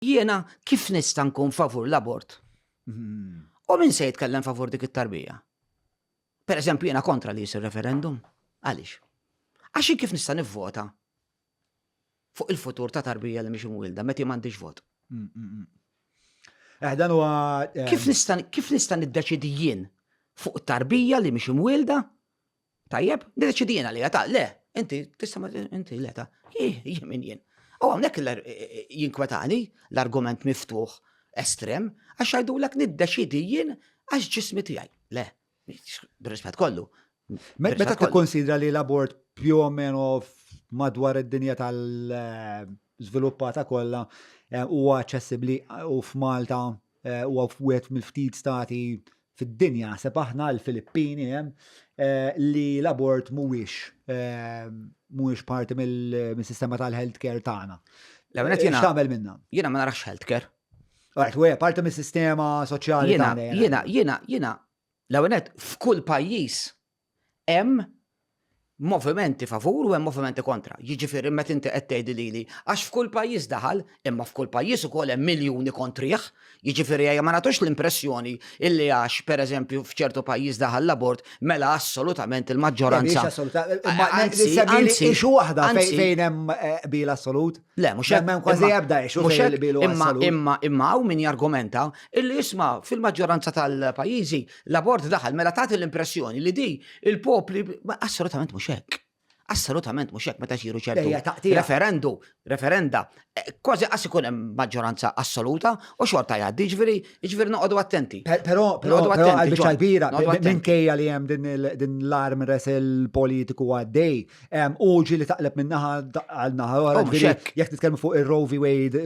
Jiena kif nista' nkun favur l-abort? U min se jitkellem favur dik it-tarbija? Per eżempju, jiena kontra li jisir referendum. Għaliex? Għax kif nista' nivvota fuq il-futur ta' tarbija li mhix imwielda meta m'għandix vot. Mm, mm, mm. Eh, dan huwa eh, kif nista' kif nista' niddeċidi jien fuq tarbija li mhix imwielda Tajjeb, deċidina li ta' le, inti tista' ma inti le ta' jien min jien. U hawnhekk jinkwetani l-argument miftuħ estrem għax għajdulek niddeċidi jien għax ġismi tiegħi. Le, b'rispett kollu. Meta tikkonsidra li l-abort più o meno madwar id-dinja tal-żviluppata kollha eh, huwa aċċessibbli u f'Malta Huwa wieħed mill-ftit stati fid-dinja, naħseb aħna l-Filippini hemm, li l-abort mhuwiex mhuwiex parti mill-sistema tal-healthcare tagħna. L-ewwel qed tagħmel minnha. Jiena ma narax healthcare. Għajt, u parti mis-sistema soċjali tagħna. Jiena, jiena, jiena, l-ewwel f'kull pajjiż hemm movimenti favur u hemm movimenti kontra. Jiġifieri meta inti qed tgħidi lili għax f'kull pajjiż daħal, imma f'kull pajjiż ukoll hemm miljuni kontrih, jiġifieri ejja ma nagħtux l-impressjoni illi għax, pereżempju, f'ċertu pajjiż daħal l-abort, mela assolutament il-maġġoranza. Issue waħda fejn hemm eh, qbil assolut. Le, mhux hemm hemm kważi ebda issue fejn qbil assolut. Imma imma hawn min jargumenta illi isma' fil-maġġoranza tal-pajjiżi Laborde daħal mela tagħti l-impressjoni li di il-popli assolutament mhux hekk. Assolutament mhux hekk meta xiru ċertu. Referendu, referenda, eh, kważi qas ikun hemm maġġoranza assoluta u xorta jgħaddi ġifieri, ġifieri noqogħdu attenti. Però noqogħdu attenti. Kbira, minkejja li hemm din l-arm resel politiku għaddej Uġi li taqleb minn naħa għal naħa oħra. Oh, jekk nitkellmu fuq ir-Roe v. Wade,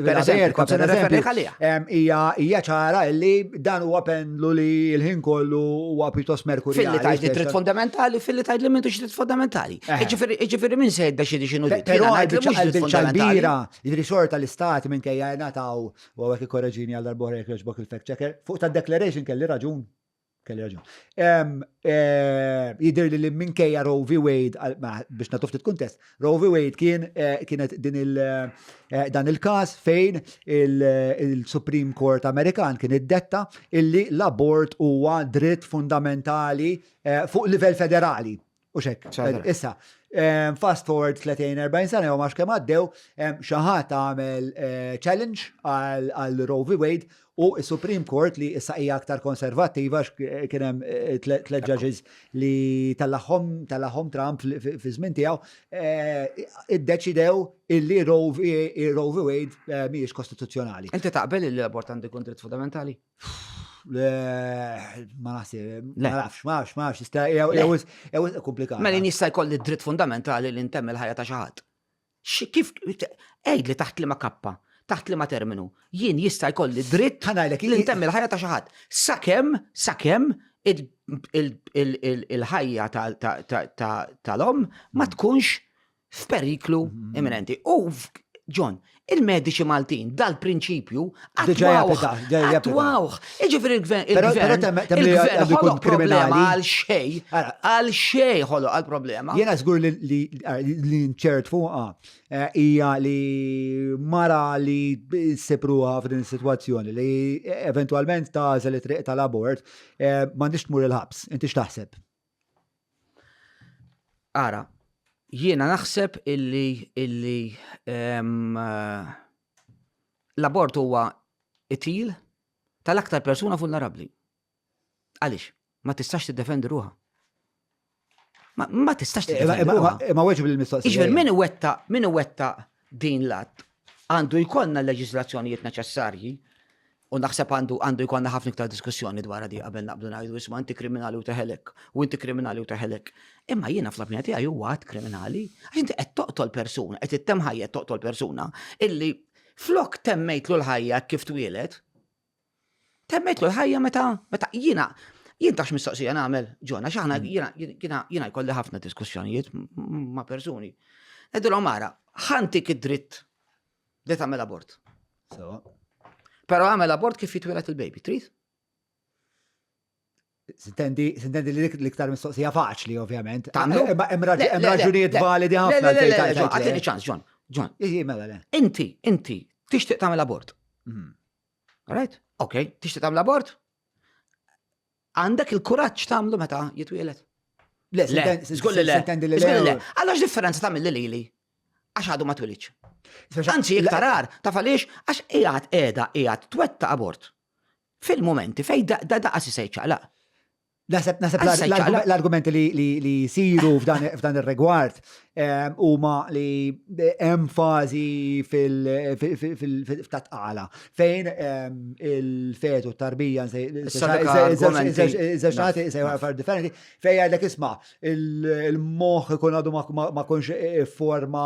hija ċara li dan huwa pendlu li l-ħin kollu huwa pjuttost merkuri. Filli tajt li trid fundamentali, filli tajt li m'intux trid fundamentali. Eh. Iġifieri minn se jidda xi xinu dik. Però bil-ċalbira, jidri xorta l-istati minn kejja nataw u għek korreġini għal darbohra jekk jogħġbok il-fact checker. Fuq ta' declaration kelli raġun. Kelli raġun. Jidir li li minkejja Roe v. Wade, biex natu ftit kuntest, Roe v. Wade kien eh, kienet din il- eh, dan il-kas fejn il- il-Supreme Court Amerikan kien iddetta illi l-abort huwa dritt fundamentali eh, fuq livell federali. U xek, issa, fast forward 30-40 sena jew max kemm għaddew, xi ħadd għamel eh, challenge għal Roe v. Wade u s-Supreme Court li issa hija aktar konservattiva kien hemm eh, tliet judges li tal-aħħom tal-aħħom Trump fi żmien tiegħu eh, iddeċidew illi Roe v. Wade mhijiex kostituzzjonali. Inti taqbel li l-abort għandu jkun dritt fundamentali? Ma naħseb, ma nafx, ma nafx, ma nafx, jista' jew komplikat. Mela jista' jkolli dritt fundamentali li ntemm il-ħajja ta' xi ħadd. Kif għid li taħt li ma kappa, taħt li ma terminu, jien jista' jkolli dritt li ntemm il-ħajja ta' xi ħadd. Sakemm, sakemm il-ħajja tal-om ma tkunx f'periklu mhm. imminenti. U John, il-mediċi Maltin dal-prinċipju għatwawħ. Iġifir il-gvern, il-gvern ħoloq problema għal xej, għal xej ħoloq għal problema. Jena zgur li nċert fuqa eh, hija li mara li sepruha f'din situazzjoni li eventualment ta' li triq tal-abort eh, ma nix tmur il-ħabs, inti x'taħseb? Ara, jiena naħseb illi illi ehm, eh, l-abort huwa itil tal-aktar persuna vulnerabbli. Għaliex? Ma tistax tiddefendi ruha. Ma, ma tistax eh, tiddefendi ruha. Ma weġib il-mistoqsija. Iġver, min wetta, min wetta din l-att għandu jkollna l-leġislazzjonijiet neċessarji U naħseb għandu għandu jkollna ħafna iktar diskussjoni dwar di qabel naqbdu ngħidu isma' inti kriminali u teħelek, u inti kriminali u teħelek. Imma jiena fl-opinja tiegħi huwa għad kriminali, għax inti qed toqtol persuna, qed ittem ħajja toqtol persuna illi flok temmejtlu l-ħajja kif twielet, temmejtlu l-ħajja meta meta jiena jien tax mistoqsija nagħmel ġona x'aħna mm. jiena jkolli ħafna diskussjonijiet ma' persuni. Edilhom mara, ħantik id-dritt Bdejt għamel abort. Sewa. Pero għamel abort kif jitwilet il-baby, trid? Sintendi, sintendi li l-iktar mistoqsija faċli, ovvjament. Tamlu? Eh, eh, hemm raġunijiet validi ħafna. Le, le, le, għatini ċans, John. John. Mela, le. Inti, inti, tixtieq tagħmel abort. Mhm. Right? Ok, tixtieq tagħmel abort? Għandek il-kuraġġ tagħmlu meta jitwieled? Le, żgur li le. Żgur li le. Allora x'differenza tagħmel li lili? Għax għadu ma twilidx. Anzi, iktar għar, taf għaliex għax qiegħed qiegħda qiegħed twetta abort. Fil-momenti fej da daqas isej ċaqlaq. Naseb l-argumenti li jisiru f'dan ir-rigward huma li hemm fażi fil-tatqala fejn il-fetu tarbija żewġnati far differenti fejn jgħidlek isma' il-moħħ ikun għadu ma kunx forma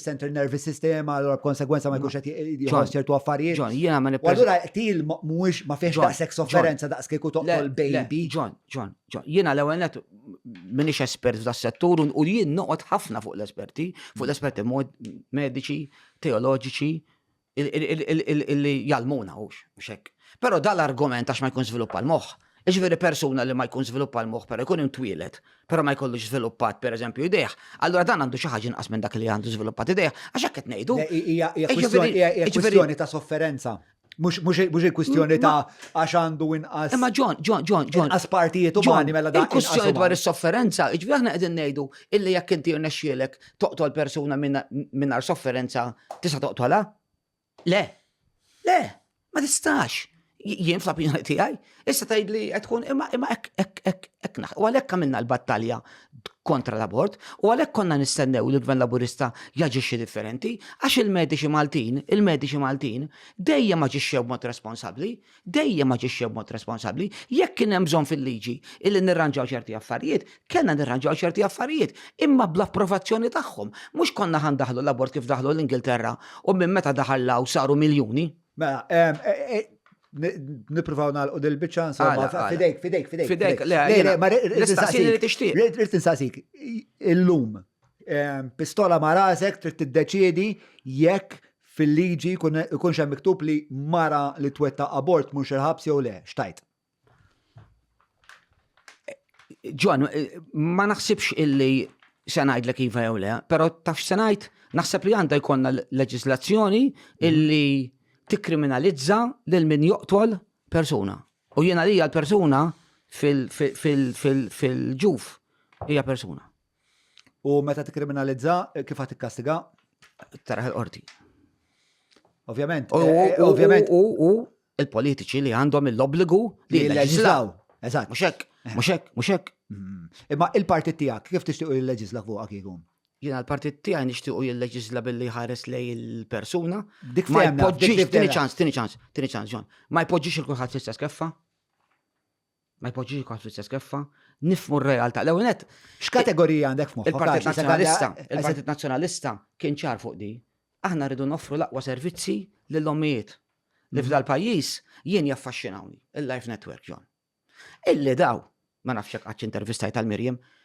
central nervous system allura b'konsegwenza ma jkunx qed jħoss ċertu affarijiet. Ġon, jiena ma nipprova. Allura til mhuwiex ma fiex daqshekk sofferenza daqs kieku toqgħod baby. Ġon, Ġon, Ġon, jiena l-ewwel minix espert f'da settur u jien noqgħod ħafna fuq l-esperti, fuq l-esperti mediċi, teoloġiċi, li jalmuna u xek. Pero dal-argument għax ma jkun sviluppa l-moħ, ġveri persuna li ma jkun sviluppa l-moħ, pero jkun imtwilet, pero ma jkollux sviluppat per eżempju ideħ, allura dan għandu xi ħaġa inqas minn dak li għandu sviluppat ideħ, għax hekk qed ngħidu. Hija kwistjoni ta' sofferenza. Mux il-kwistjoni ta' għax għandu inqas. Imma ġon, ġon, ġon, ġon. Inqas partijiet u ġoni mela dan. Il-kwistjoni dwar is-sofferenza, iġbi aħna qegħdin ngħidu illi jekk inti rnexxielek toqtol persuna mingħajr sofferenza tista' toqtolha? Le. Le, ma tistax. Jien fl-opinjoni tiegħi, Issa tajd li qed tkun imma imma hekk hekk hekk hekk naħ. U għalhekk għamilna l-battalja kontra l-abort u għalhekk konna nistennew li l-Gvern Laburista jaġixxi differenti għax il-mediċi Maltin, il-mediċi Maltin dejjem aġixxew b'mod responsabbli, dejjem aġixxew b'mod responsabbli. Jekk kien hemm bżonn fil-liġi illi nirranġaw ċerti affarijiet, kellna nirranġaw ċerti affarijiet, imma bl-approvazzjoni tagħhom. Mhux konna ħa ndaħlu l-abort kif daħlu l-Ingilterra u minn meta daħal l-hawn saru miljuni. Mela, nipruvaw nalqu dil-bicċa insomma. Fidejk, fidejk, fidejk. Fidejk, le, l-istaqsini li tixtieq. Rrit insaqsik, illum, pistola ma' rasek trid tiddeċiedi jekk fil-liġi jkun xem miktub li mara li twetta abort mhux il-ħabs jew le, xtajt? Ġwan, ma naħsibx illi se ngħidlek iva jew le, però tafx se ngħid naħseb li għandha jkollna leġislazzjoni illi tikkriminalizza lil min joqtol persuna. U jiena li l-persuna fil-ġuf hija persuna. U meta tikkriminalizza, kif għat tikkastiga? Taraħ il-qorti. Ovvjament. U eh, ovvjament. U u il-politiċi li għandhom l-obbligu li jleġislaw. Eżatt. Muxek, muxek, muxek. Mm. Imma il-partit tiegħek kif tixtiequ jilleġisla fuq akikum? Jiena l-partit tiegħi nixtiequ jilleġisla billi ħares lej il-persuna. Dik ma jpoġġix, tieni ċans, tieni ċans, tieni ċans, John. Ma jpoġġix il-kulħadd fl-istess keffa. ma jpoġġix il-kont fl-istess keffa, nifmu r-realtà. L-ewwel nett. X'kategorija għandek f'moħħok? Il-Partit Nazzjonalista, il-Partit Nazzjonalista kien ċar fuq di. Aħna rridu noffru l-aqwa servizzi lill-ommijiet. Li mhm. f'dal pajjiż jien jaffaxxinawni, il-Life Network John. Illi daw, ma nafx hekk qatt intervistajt tal-Mirjem,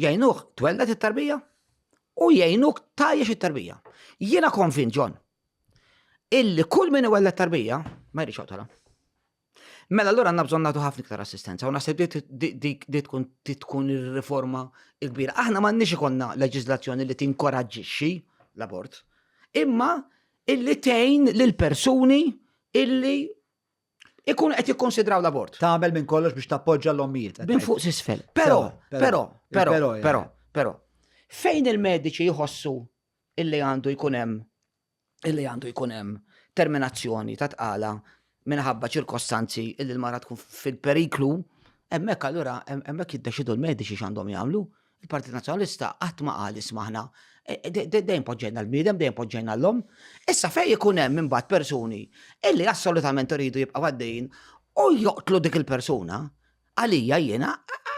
jgħinuh twelled it-tarbija u jgħinuk tajjex it-tarbija. Jiena konvint ġon illi kull min iwelled tarbija ma jridx joqtolha. Mela allura għandna bżonn nagħtu ħafna iktar assistenza u naħseb li tkun tkun ir-riforma l-kbira. Aħna m'għandniex ikollna leġiżlazzjoni li tinkoraġġixxi l-abort, imma illi tgħin lill persuni illi ikun qed jikkonsidraw l-abort. Tagħmel minn kollox biex tappoġġa l-ommijiet. Bin fuq sisfel. Però, però, però, però, però, fejn il-mediċi jħossu illi għandu jkun hemm illi għandu jkun hemm terminazzjoni ta' tqala minħabba ċirkostanzi illi l-mara tkun fil-periklu, hemmhekk allura hemmhekk jiddeċidu l-mediċi x'għandhom jagħmlu. Il-Partit Nazzjonalista qatt ma qal ismaħna e, e, dejjem poġġejna l-bniedem, dejjem poġġejna l-lom. Issa fej ikun hemm imbagħad persuni illi assolutament iridu jibqa' għaddejjin u joqtlu dik il-persuna, għalija jiena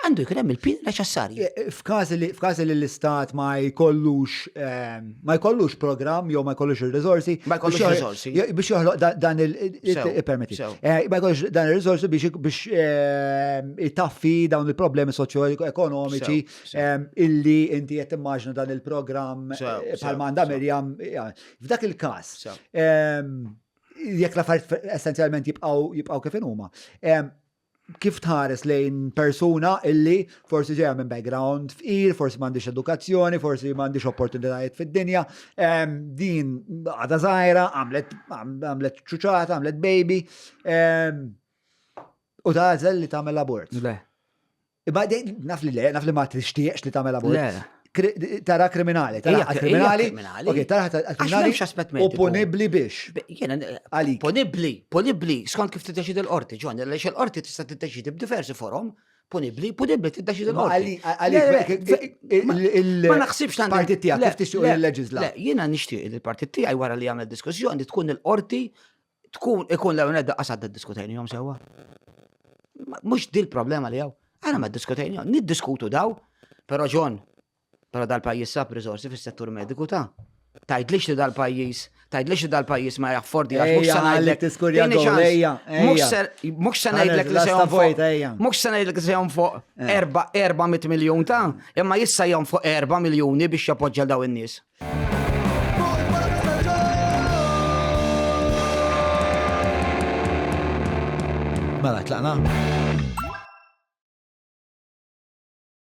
għandu jkun hemm il-pin neċessarju. E, f'każi li l-istat ma jkollux ehm, ma jkollux programm jew ma jkollux ir-riżorsi. Ma jkollux ir-riżorsi. Biex joħloq dan il-permetti. Eh, ma jkollux dan ir-riżorsi biex eh, itaffi dawn il-problemi soċjo-ekonomiċi eh, illi inti qed immaġna dan il-programm bħal manda Mirjam. F'dak il-każ, jekk l-affarijiet essenzjalment jibqgħu kif huma. kif tħares lejn persuna illi forsi ġejja minn background fqir, forsi m'għandix edukazzjoni, forsi m'għandix opportunitajiet fid-dinja, din għada żgħira, għamlet ċuċata, għamlet baby, u tażel li tagħmel abort. Le. Imma naf li le, naf li ma tixtieqx li tagħmel abort. Tara kriminali, tara kriminali. Ok, tara kriminali. U punibli biex. Għalik. Punibli, punibli, skont kif tiddeċidi l-qorti, ġon, li l-qorti tista' tiddeċidi b'diversi forom, punibli, punibli tiddeċidi l-qorti. Ma naħsibx tant. Partit tiegħek kif tixtieq il-leġisla. Jiena nixtieq il-partit tiegħi wara li għamel diskussjoni tkun il-qorti tkun ikun l-ewwel nedda qasad diskutejnihom sewwa. Mhux dil problema li hawn. Għana ma diskutejnihom, niddiskutu daw, però ġon, però dal-pajjiż sab riżorsi fis-settur mediku ta' tajdlix li dal-pajjiż, tajdlix li dal-pajjiż ma jaffordi għax mhux se ngħidlek. Tiskurja għalija. Mhux se ngħidlek li se fuq. Mhux se ngħidlek li se fuq 400 miljun ta' imma jissa jom fuq 4 miljuni biex jappoġġa daw in-nies. Mela, tlaqna?